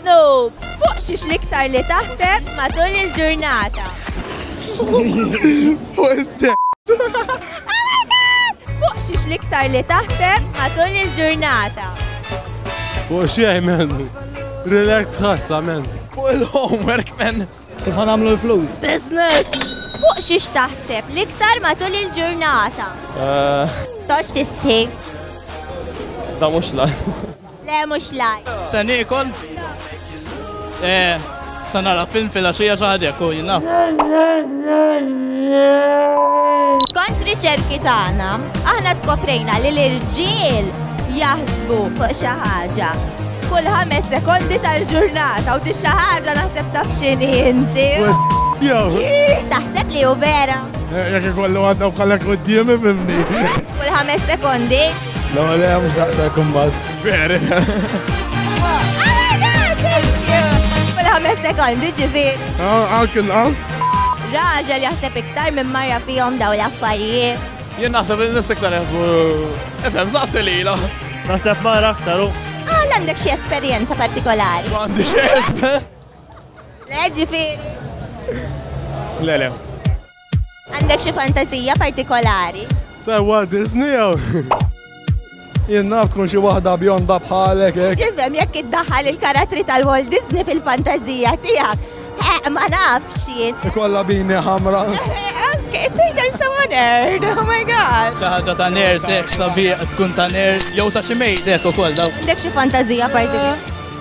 Snoop, fuq xiex l-iktar li taħseb matul il-ġurnata? Fuq is-sex. Fuq xiex l-iktar li taħseb matul il-ġurnata? Fuq xej, men. Relax ħassa, men. Fuq il-homework, men. Kif għanamlu l-flus? Business! Fuq xiex taħseb l-iktar matul il-ġurnata? Eh, Tox tistħi. Da mux la. Le mhux laj. Se niekol. Eh, se nara film fil-għaxija xi ħadd hekk u jien naf. Skont riċerki tagħna, aħna skoprejna li l-irġiel jaħsbu fuq xi ħaġa kull ħames sekondi tal-ġurnata u di xi ħaġa naħseb taf x'inhi inti. Taħseb li hu vera. Jekk ikollu għadda bħalek quddiemi mimni. Kull ħames sekondi. No, le, mux daqsa kummal. Veri. Għametek għandi ġifir. Għak il-qas. Raġel jaħseb iktar minn marja fihom daw l-affarijiet. Jien naħseb il-nis iktar jaħsbu. Efem, saqsi li la. Naħseb marra aktar u. Għal għandek xie esperienza partikolari. Għandi xie esper. Le ġifir. Le, le. Għandek xi fantazija partikolari? Ta' Walt Disney jew? Jien naf tkun xi waħda bjonda bħalek hekk. Tifhem jekk iddaħħal il-karattri tal-Walt Disney fil-fantażija tiegħek. Eh, ma nafx jien. Ikolla bini ħamra. Okay, think I'm so honored. Oh my god. Taħda ta' nerd, sex, sabiq, tkun ta' nerd, jew ta' xi mejdek ukoll daw. Għandek xi fantażija partikolari?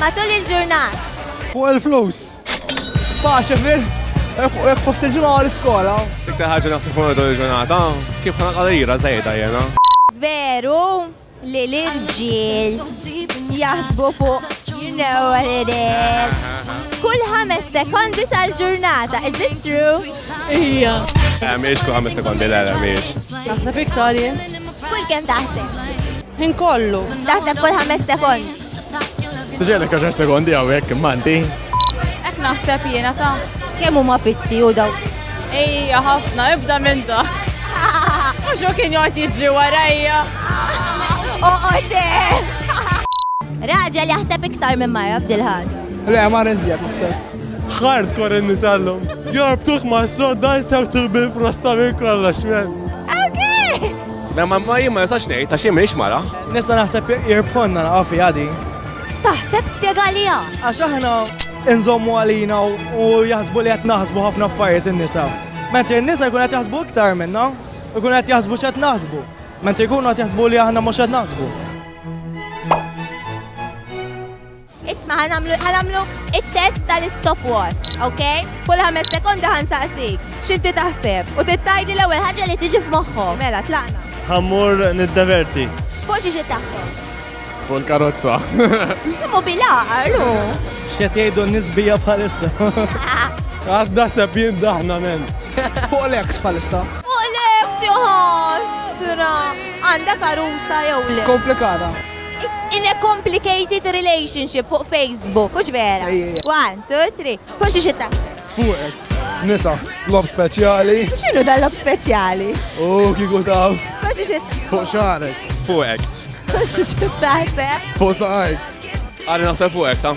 Matul il-ġurnat. Fuq il-flus. Paċe fil. Jek fost il-ġimgħa għal iskola. Iktar ħaġa naħseb fuq matul il-ġurnata. Kif ħana qalira żejda jena. Veru li l-irġiel jaħsbu fuq you know what it is. Kull ħames sekondi tal-ġurnata, is it true? Ija. Eh, miex kull ħames sekondi, la, la, miex. Naħseb iktar jien. Kull kem taħseb? Ħin kollu. Taħseb kull ħames sekondi. Ġelek għaxar sekondi għawek, manti. Ek naħseb jena ta' Kemm huma fitti u daw? Ejja, ħafna, ibda minn da. Mux u kien jgħot jiġi warajja. Oqote! Raġel jaħseb iktar minn marra f'dil-ħad. Le, ma rinżjak naħseb. Hard kore nisallum. Jorbtuħ ma s-sodda jisawtuħ bil-frosta minn kolla xmez. Okay! Ma ma ma jien ma nistax ngħid għax jien m'iniex mara. Nista' naħseb jirbħonna naqgħu fiha din. Taħseb spjegaliha. Għax aħna inżommu għalina u jaħsbu li qed naħsbu ħafna affarijiet in-nisa. Mentri n-nisa jkun qed jaħsbu iktar minna, jkun qed jaħsbu x'qed naħsbu. Mentri jkunu qed jaħsbu li aħna mhux qed naħsbu. Isma' ħa nagħmlu ħa nagħmlu it-test tal-istopwatch, ok? Kull ħames sekondi ħa nsaqsik x'inti taħseb u trid tgħidli l-ewwel ħaġa li tiġi f'moħħok. Mela tlaqna. Ħa mmur niddeverti. Fuq xi xi taħseb? Fuq il-karozza. Kemm hu bil-għaqar hu? X'qed jgħidu n-nies bija bħalissa? Għad naħseb jien daħna men. Fuq l-eks bħalissa. Fuq l-eks joħosra. Għandha karusa jew le? Komplikata. In a complicated relationship fuq Facebook, hux vera? One, two, three. Fuq xi xi taħseb? Fuqek. Nisa, lob speċjali. X'inhu dan lob speċjali? U kieku taf. Fuq xi xi Fuq xarek. Fuqek. Fuq xi xi taħseb? Fuq saqajk. Għalli naħseb fuqek, ta?